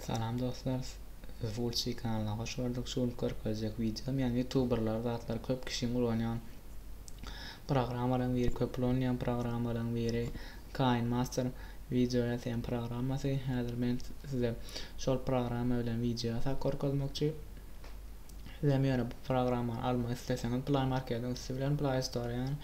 Salam dostlar Sizi Gulçy kanalyna hoş gördük. Şu gün görkezjek wideom ýa youtuberlar zatlar köp kişiň ulanýan programmalaryň biri köp ulanýan programmalaryň biri Kain Master wideo ýasaýan programmasy. Häzir men size şol programma bilen wideo ýasap görkezmekçi. Sizem ýöne bu programmany almak isleseňiz Play Marketiň üsti bilen Play Store-dan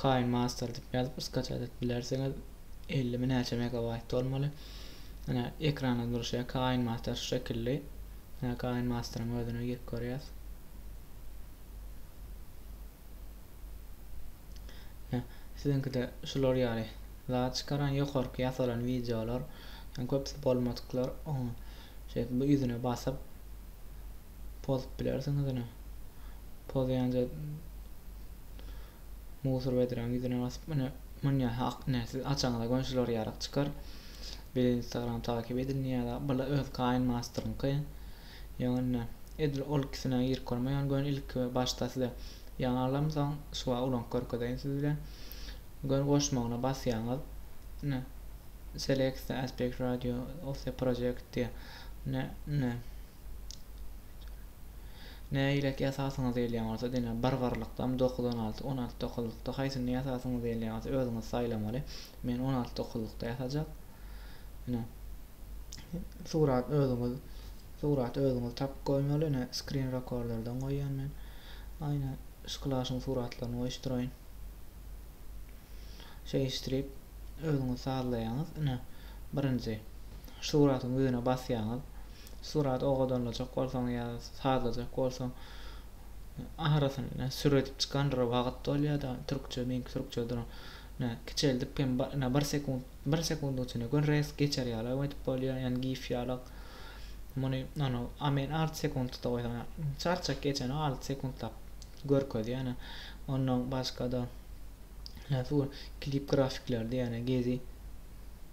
Kain Master diýip ýazyp skачать edip bilersiňiz. ellimi näçe megabaýt bolmaly ine ekranda durşy kain master şu şekilli ine kain masteryň özüne girip görýäs ine siziňkide şular ýaly zat çykaran ýokarky ýasalan wideolar köpüsi bolmadyklar şeýdip bu ýüzüne basyp pozup bilersiňiz ine pozýanja musur wedräniň ýüzüne basyp ine munýa ak ine siz açaňyza göni şular ýarak çykar bile instagram takyp edin ýa-da bile öz kaýyn masterňky ýöne ine edil ol ikisine girip görme ýöne göni ilki başda size ýaňy alaryn soň şuwa ulanyp görkezeýin siz bile göni goşmagyna basýaňyz ine select the aspect radio of the project diýe ine ine Nägileki ýasasyňyz gelýän bolsa, diňe bir birlikdem dokuz on alty, on alty dokuzlykda haýsyny ýasasyňyz gelýän bolsa özüňiz saýlamaly. Men on alty dokuzlykda ýasajak. Ine. Surat özüňiz suraty özüňiz tapyp goýmaly. Ine screen rekorderden goýýan men. Aýna şyklaşyň suratlaryny goýuşdyraýyn. Şeýişdirip özüňiz sazlaýaňyz. Ine birinji suratyň ýüzüne basýaňyz. Surat owadanlajak bolsaň ýa sazlajak bolsaň ahyrysyny nä süredip çykandyra wagyt dolýada türkçe meňki türkçe duran nä kiçeldip hem nä bir sekunt bir sekundyň içinde gör resk geçer ýalam edip bolýa ýani gif ýalak muny ony a men alty sekuntda goýsam çarçak geçeni alty sekuntlap görkezýä nä ondan başgada nä su klip grafikler diýeni gezi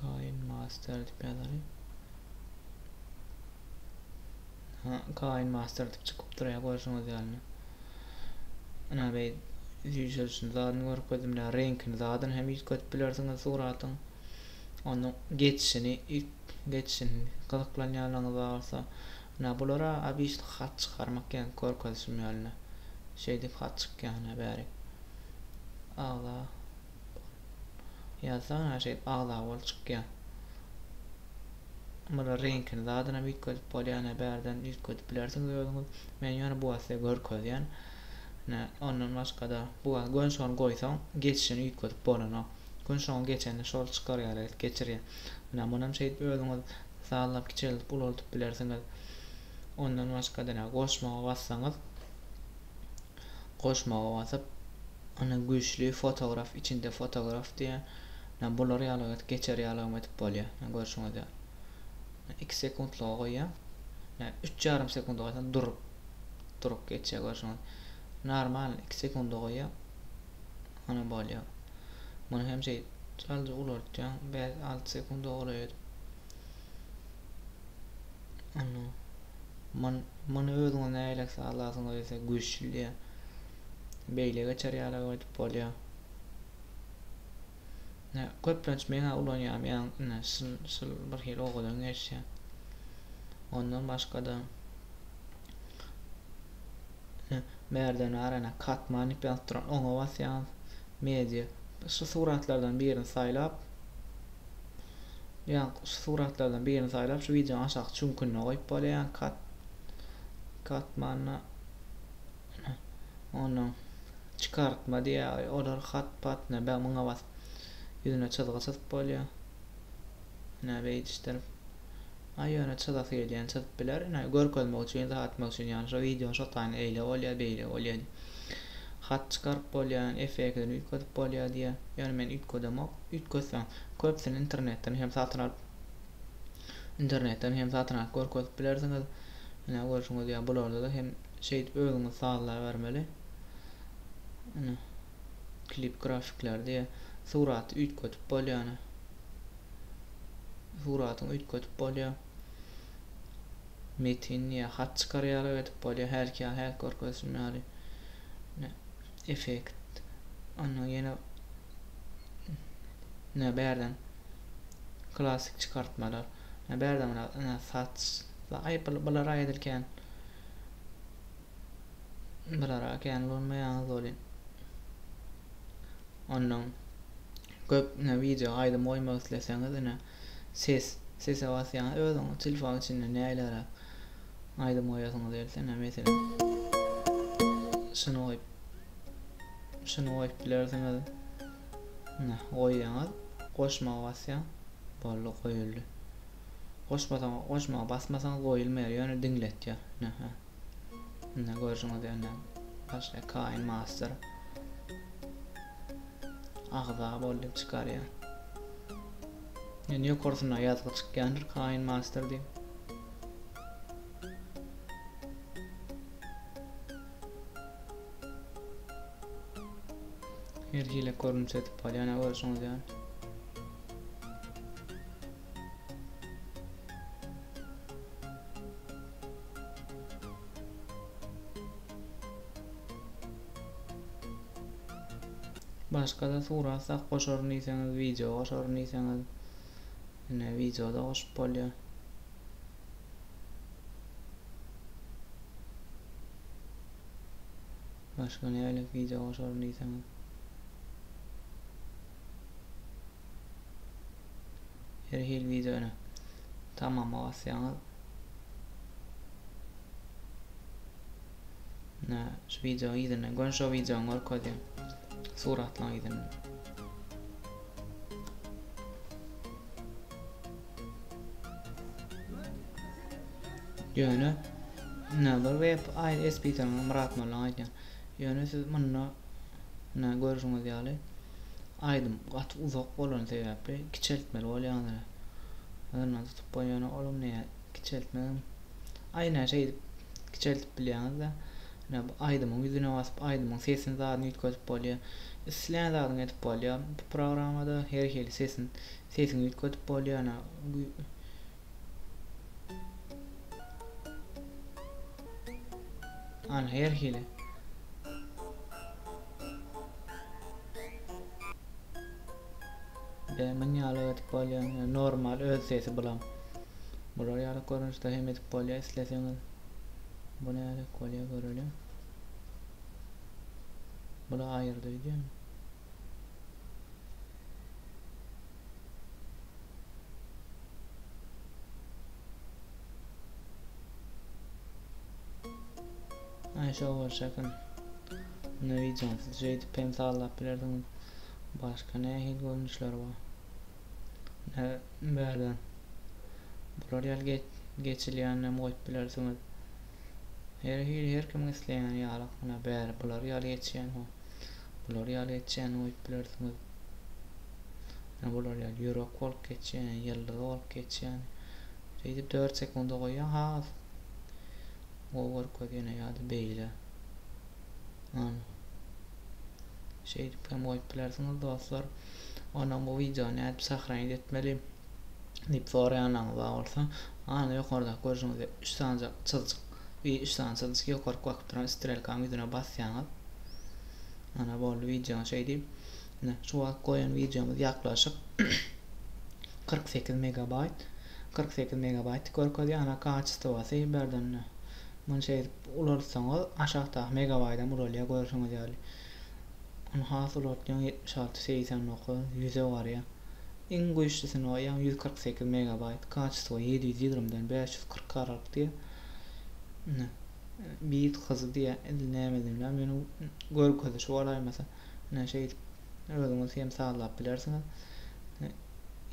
Kaýyn master diýip ýazaly. Ha, Kaýyn master diýip çykypdyr ýa görşüňiz ýaly. Ana beý ýüzüň zadyny görkezdim ýa reňkini zadyn hem ýüzketip bilersiňiz suratyň. Onu geçişini, geçişini gyzyklanýanlaryňyz bolsa, ana bulara abişli hat çykarmak ýa görkezişim ýaly. Şeýdip hat çykýar ana bäri. Agza Ýazsana şeýdip agza bol çykýa. Mura reňkini zadynam üýtgedip bolýana bärden üýtgedip bilersiňiz özüňiz. Men ýöne bu wagta görkezýän. Nä, ondan başgada bu wagt gön şony goýsaň geçişini üýtgedip bolanok. Gön şoňa geçende şol çykar ýaly edip geçirýä. Nä, munam şeýdip özüňiz sazlap kiçeldip ulaldyp bilersiňiz. Ondan başgada nä, goşmaga bassaňyz. goşmaga basyp ony güýçli fotograf içinde fotograf diýýär ýa bular ýaly edip geçer ýalygam edip bolýar ýa görşüňiz ýaly iki sekuntlyga goýýar ýa üç ýarym sekunt goýsaň durup durup geçýär görşüňiz normal iki sekunda goýýar ony bolýar muny hem şeýdip çal ulartýaň bäş alty sekunda golaý edip Muny özüňiz nähili sazlasaňyz ýa-da güýçli beýle geçer ýaly aýdyp bolýar. Ne köplenç men ulanýan ýa ine şul şul bir hili owadan geçýär. Ondan başga-da Merdan arana katman diýip ýazyp duran oňa basýaňyz. Media şu suratlardan birini saýlap Ýa şu suratlardan birini saýlap şu wideonyň aşaky çüňkünde goýup bolýar. Kat katmanda ondan çykartma diýýär. Olar hat patna bä muňa bas. Ýüzüne çyzgy çyzyp bolýar. Näme edişdir. Aý ýöne çyzasy gelýän çyzyp biler ine görkezmek üçin yza atmak üçin ýagny şo wideony şo taýyn eýle bolýa beýle bolýa diýip hat çykaryp bolýa efektini üýtgedip bolýa diýýa ýöne men üýtgedemok üýtgetseň köpsini internetden hem satyn alyp internetden hem satyn alyp görkezip bilersiňiz ine görşüňiz ýa bularda da hem şeýdip özüňiz sazlabermeli ine klip grafikleri diýe suraty üýtgetip bolýany suratyňy üýtgetip bolýa metin diýe hat çykarýarlar edip bolýa hälki ýaly hälki görkezişim ýaly effekt onda ýene ne bärden klasik çykartmalar ne bärden saç bular aýdylkän Bir ara kän bolmaýaňyz bolýa. Ondan köp ne video aýdym goýmak isleseňiz ine ses sese basýaňyz özüňiz telefon içinde näleräk aýdym goýasyňyz gelse ine meselem şuny goýup şuny goýup bilersiňiz ine goýýaňyz goşmaga basýaň boldy goýuldy goşmasaň goşmaga basmasaňyz goýulmaýar ýöne diňletýär ine Indi görjüňiz ýöne başga Kain Master agza bol diýip çykarýar. Ýöne ýokarsynda ýazgy çykýandyr Kain Master diýip. Her hili görnüş edip bolýar ýöne görjüňiz ýöne. Başgada surat sak goşaryn diýseňiz wideo goşaryn diýseňiz ine wideoda goşup bolýar. Başga nälik wideo goşaryn diýseňiz. Her hil wideony tamama basýaňyz. Ne, şu wideony ýerine gön şu wideony görkezýän. Suratlaň ýerine. Ýöne ne bir web aýy SPT'ni Myrat Molla aýdýan. Ýöne siz munda ine görşüňiz ýaly aýdym gaty uzak bolany sebäpli kiçeltmeli bolýandyr. Yndan tutup goý ýöne olam näe kiçeltmegem aý ine şeýdip kiçeltip bilýäňizde ine bu aýdymyň ýüzüne basyp aýdymyň sesini zadyny üýtgedip bolýa islän zadyňy edip bolýa bu programmada her hili sesin sesiňi üýtgedip bolýa ine An her hili. Be myn ýaly edip bolýamy normal öz sesi bulam. Bular ýaly görnüşde hem edip bolýa isleseňiz. Bu nädek bolýa göreliň. Bula aýyrdy wideo. Ay şo bolşakyn. Ne wideonsyz şeýdip hem sallap bilerdiňiz. Başga nähili görnüşler bar? Ne bäde. Bular ýaly geçilýänini hem goýup bilersiňiz. Her hili her kimiň isleýäni ýalak munä bäri bulary ýaly geçýän ho bulary ýaly geçýän ho öýüp bilersiňiz. Munä bular ýaly ýürek bolup geçýän, ýyldyz bolup geçýän. Şeýdip 4 sekunda goýýan has gowy görkezýän ýa-da beýle. Ana. Şeýdip hem goýup bilersiňiz dostlar. Ondan bu wideony nädip sahraýit etmeli? diýip soraýanlaryňyz bar bolsa, ana ýokardaky görşüňizde üç sany çyzjyk, bi üç sany çyzjyk ýokaryk bakyp duran strelkanyň ýüzüne basýaňyz. Ana boldy wideonyň şeýdi. Ine şu wagt goýan wideomyz ýaklaşyk 48 megabaýt. 48 megabaýty görkezýär. Ana kaçestowasy birden ine. Muny şeýdip ulaltsaňyz aşakdaky megabaýdam ulalýar görşüňiz ýaly. Ony has ulaltýaň 76, 89, 100-e barýar. Iň güýçlüsini goýýaň ýüz kyrk sekiz megabaýt kaçistwo ýedi ýüz ýigrimi dan bäş ýüz kyrk garalyp diýýä ine bit hyzy diýýä il nämedigini bilmän meni görkezişi golaýmasa ine şeýdip özüňiz hem sazlap bilersiňiz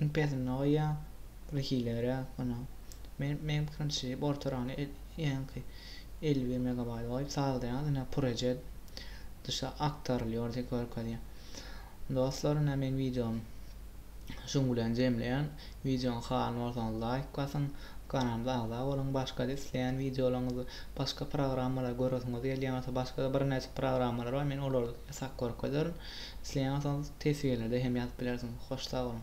iň pesini goýýaň bir hileräk ine men meň pikirimçe şeýdip ortarany ýaňky elli bir megabaýdy goýup sazlaýaňyz ine purejet duşa aktarylýar diýip görkezýär Dostlar ine men wideony şuň bilen jemleýän. Wideony halan bolsaňyz laýk basyň, kanalymyza agza boluň, başgada isleýän wideolaryňyzy, başga programmalary göresiňiz gelýän bolsa başgada birnäçe programmalar bar men olary ýasap görkezerin. Isleýän bolsaňyz teswirlerde hem ýazyp bilersiňiz. Hoş sag boluň.